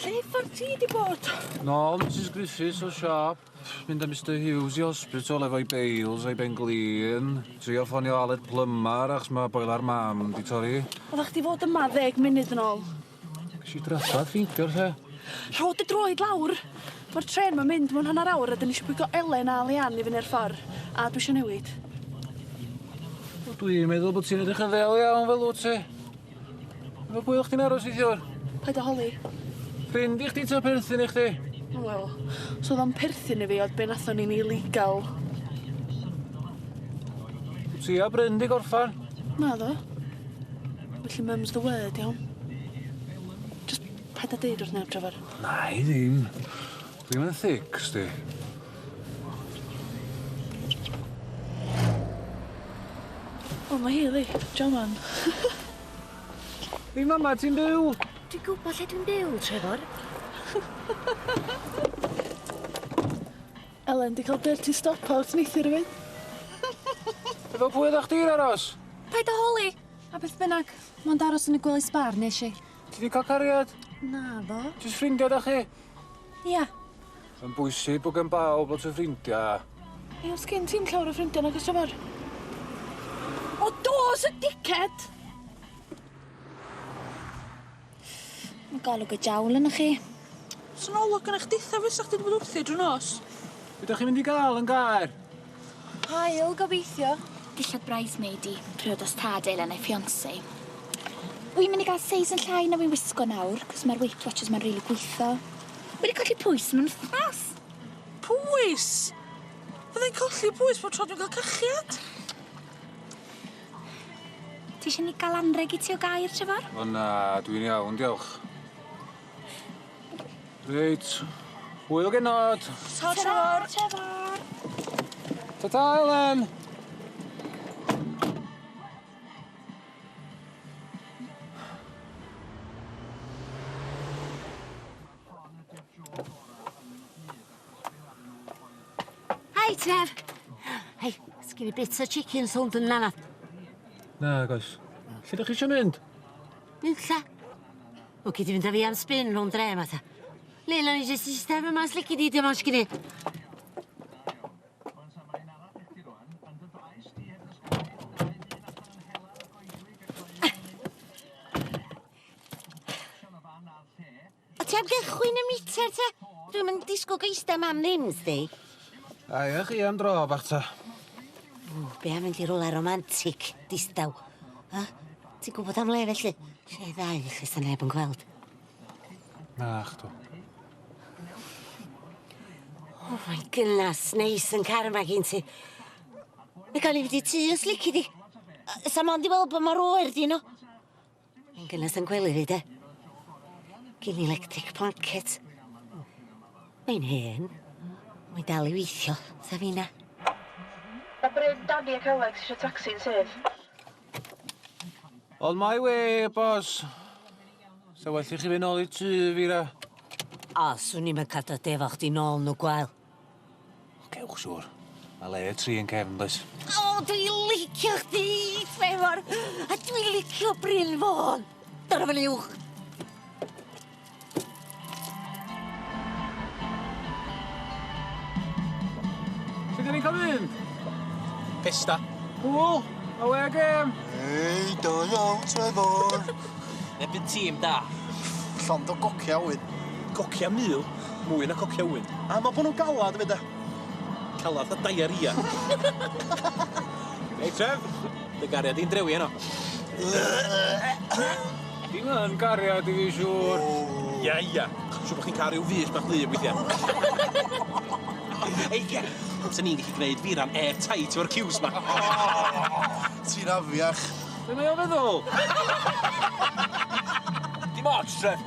Lle ffordd ti di bod? Nôl Mrs Griffiths o siop, mynd â Mister Hughes i hospital efo'i bales a'i ben glin, trio ffonio Aled Plymar achos ma' boiler mam di torri. Oddach chdi fod yma ddeg munud yn ôl. Nes i drafod ffeindio lle. Rho dy droed lawr! Mae'r trên ma'n mynd mewn hanner awr a dyn ni eisiau pwygo Elen a Leanne i fyny i'r ffordd. A dwi eisiau newid. Wel dwi'n meddwl bod ti'n edrych yn ddel iawn fel wyt ti. Efo pwy o'ch ti'n aros neithiwr? Paid â holi. Ffrind i chdi ta perthyn i chdi? Wel, os oedd o'n perthyn i fi oedd be' nathon ni'n illegal. Ti a Bryn 'di gorffan? Naddo. Felly mum's the word iawn? Jyst paid â deud wrth neb Trefor. Na'i ddim. Dwi ddim yn thic, sdi. O ma' hi yli. Jaman. Dim yma ti'n byw! Dwi'n gwbo lle dwi'n byw, Trefor. Elen, di cael dirty stop out neithiwr efyd. Efo pwy oddach chdi'n aros? Paid a holi! A beth bynnag, mond aros yn y gwely sbar nesh i. Ti di cael cariad? Naddo. Jyst ffrindia dach chi? Ia. Mae'n bwysig bod gen bawb lot o ffrindia. Hei, oes gen ti'm llawer o ffrindia nag oes Trefor? O dos y dickhead! Ff, golwg y jawl ynoch chi. Sa 'na olwg gynnoch ditha fysa chdi 'di bod wrthi drw nos. Be' dach chi mynd i ga'l yn gaer? Haul gobeithio. Dillad bridesmaid i. Priodas tad Elin a'i fiancé. Wi'n mynd i ga'l seis yn llai na wi'n wisgo nawr, 'c'os ma'r weight watchers 'ma'n rili gwitho. Wi 'di colli pwys mewn wthnos. Pwys? Fyddai'n colli pwys bob tro dwi'n ca'l cachiad? Ti isio ni ga'l anreg i ti o gair, Trefor? O na, dwi'n iawn, diolch. Reit, hwyl genod. Ta, Trefor. Trefor. Ta ta, Elen. Hi, Trev. Hei, sgyn i bits o chicken sownd yn nana. Na, goes. Lle da chi eisiau mynd? Mynd lla. O, gyd i fynd â fi am spin rhwng dre yma, ta. Leila, ni jyst i staf yma, sle gyd i dim ond sgyn i. A ti am gychwyn y meter ta? Dwi'm yn disgwyl geista mam ddim, sdi. Aia chi am dro bach ta. O, be am mynd i rola romantic, distaw? Ha? Ti'n gwybod am le felly? Lle ddau i chi sa neb yn gweld. Na, chdw. Oh my goodness, neis yn car yma gyn ti. Mae gael ei wedi tu os lici di. Sa mond i weld bod mor oer di nhw. Yn gynnes yn gwely fi de. Gin i electric blanket. Mae'n hen. Mae'n dal i weithio, tha finna. Mae Bryn, Danny ac Alex eisiau tacsi yn syth. On my way, boss. Sa well i chi fynd nôl i tŷ, Fira. O, swn i'm yn cadw dy efo chdi nôl yn y gwael. O, cewch siŵr. Mae le y tri yn cefn, does? O, dwi licio chdi, Trevor! A dwi licio Bryn Fôn! Dyna fan uwch! Lle dyn ni'n cael mynd? Pesta. Cŵl! Awê gêm! Hei, da iawn, Trevor! Neb yn tîm da. Llond o gocia ŵyn. Cocia mil? Mwy na cocia ŵyn. Am eu bod nhw'n galad, yn meda. Calad fatha diarrhea. Hei Trev, dy gariad di'n drewi heno. Dim yn gariad i fi siŵr. Ia ia, siŵr bod chi'n cael rhyw fys bach wlyb weithiau. Hei Kev, 'sen ni'n gallu gwneud fi ran airtight efo'r ciws 'ma. Ti'n afiach. Be mae o'n feddwl? Dim ots, Trev.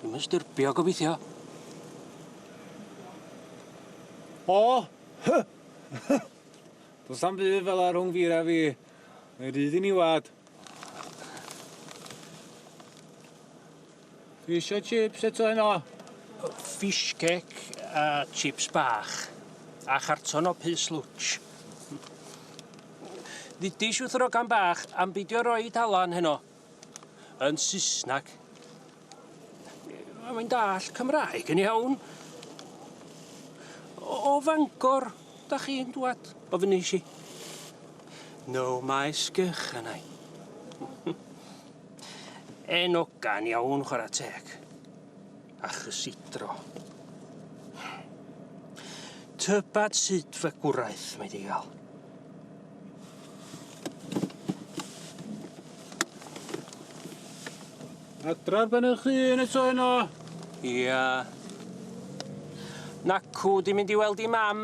Dwi'm yn styrbio, gobeithio. O! Hy! Hy! Does am byd fel ar rhwng fira fi. Mae rhyd i ni wad. Fi eisiau chips eto heno. Fish cake a chips bach. A charton o pys lwtsh. Ddidis wrth yr ogan bach am beidio roi talan heno. Yn Saesneg. Mae'n dall Cymraeg yn iawn. O, o Fangor, da chi'n dwad? O fy nes i. No, mae sgych yna i. Yn ogan iawn, chwarae teg. A chysidro. Tybed sut fe gwraeth, mae di gael. Adra ben y chyn eto yno. Ia. Nacw, di mynd i weld i mam.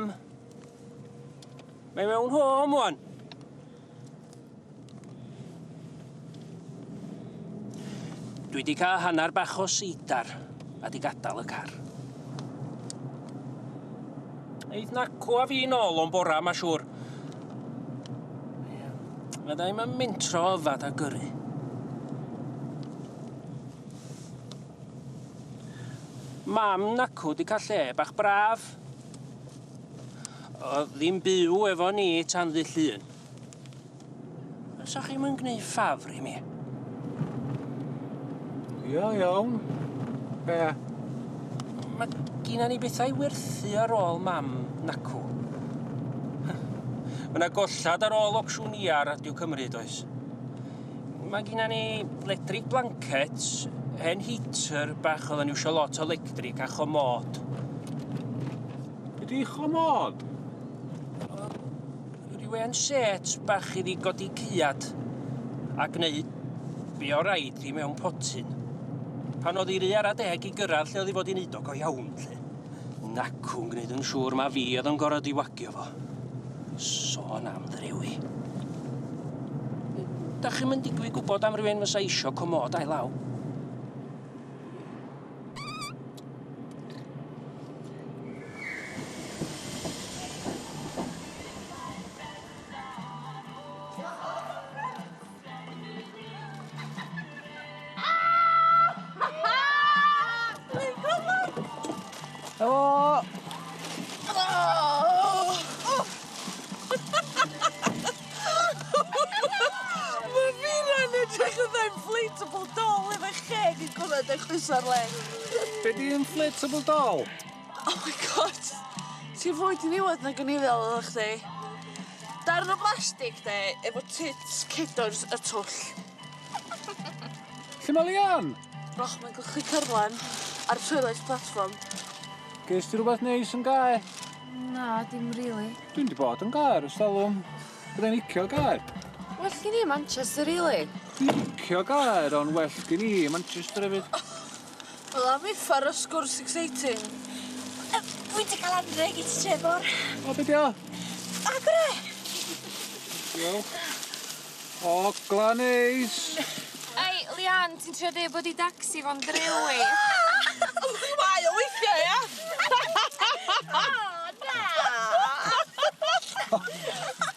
Mae mewn home, wan. Dwi wedi cael hanner bach o seidar a di gadael y car. Eith nacw a fi'n ôl o'n bora, mae siŵr. Mae da i'n mynd mentro yfad a gyrru. Mam nacw di cael lle bach braf. Oedd ddim byw efo ni tan ddy llun. Fysa chi'm yn gneud ffafr i mi? Ia, iawn. Be? Mae gina ni bethau i werthu ar ôl mam nacw. Mae yna gollad ar ôl ocsiwn iar Radio Cymru, does? Mae gennym ni ledrig blancets, hen heater bach oedd yn iwsio lot o lectric a chomod. Be di chomod? Rhyw hen set bach i ddi godi cyad a gwneud be o raid i mewn potyn. Pan oedd i ry ara deg i gyrraedd lle oedd i fod i'n neud o go iawn 'lly. Nacwn gwneud yn siŵr ma fi oedd yn gorau diwagio fo. Sôn am ddrewi. Da chi'n mynd digwydd gwybod am rywun fysa eisiau comod a'i law? Be di inflatable doll? Oh my God. Ti fwy diniwed nag o'n i feddwl oddach chdi. Darn o blastig de, efo tits cedars a twll. Lle mae Leanne? Roch mae'n gwlchu cyrlen ar trwydded platform. Geis ti rhywbeth neis yn gae? Na, dim really. Dwi'n di bod yn gae ar y salwm. Byddai'n icio gae. Well gen i Manchester really. Dwi'n icio gae, ond well gen i Manchester hefyd. Wel am uffar o sgwrs exciting. Yy wi 'di ca'l anreg i ti Trefor. O be' 'di o? Agor e! Diolch. O Ogla'n neis! Ei Leanne ti'n trio deu bod i Dacsi fo'n drewi? Ww mae o weithia ia? O na!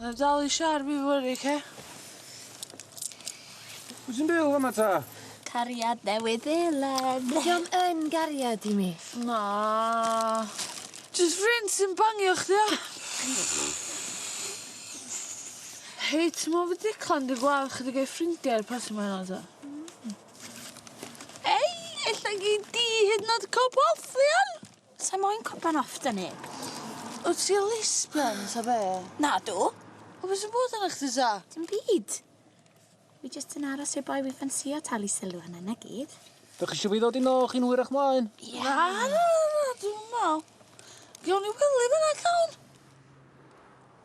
Na dal i siar fi fory oce? Pw' sy'n byw fama ta? Cariad Newydd Seland. Di o'm yn gariad i mi. Na. Jys ffrind sy'n bangio chdi ia? Hei ti me'wl fy Declan dy gweld chdi ga'i ffrindia ar y parti ma ŵan ta? Hmm. Ei ella gei di hyd yn o'd ca'l porthion! Sai moyn cwpan off da neb. Wt ti o lesbian ta be? Nadw. O be' sy'n bod arna chdi ta? Dim byd. Fi jyst yn aros i'r boi fi ffansïo talu sylw a 'na 'na gyd. Dach chi isio fi ddod i nôl chi'n hwyrach mlaen? Ie. Na na na na dwi'm yn me'wl. Gewn ni wely fan 'na cawn?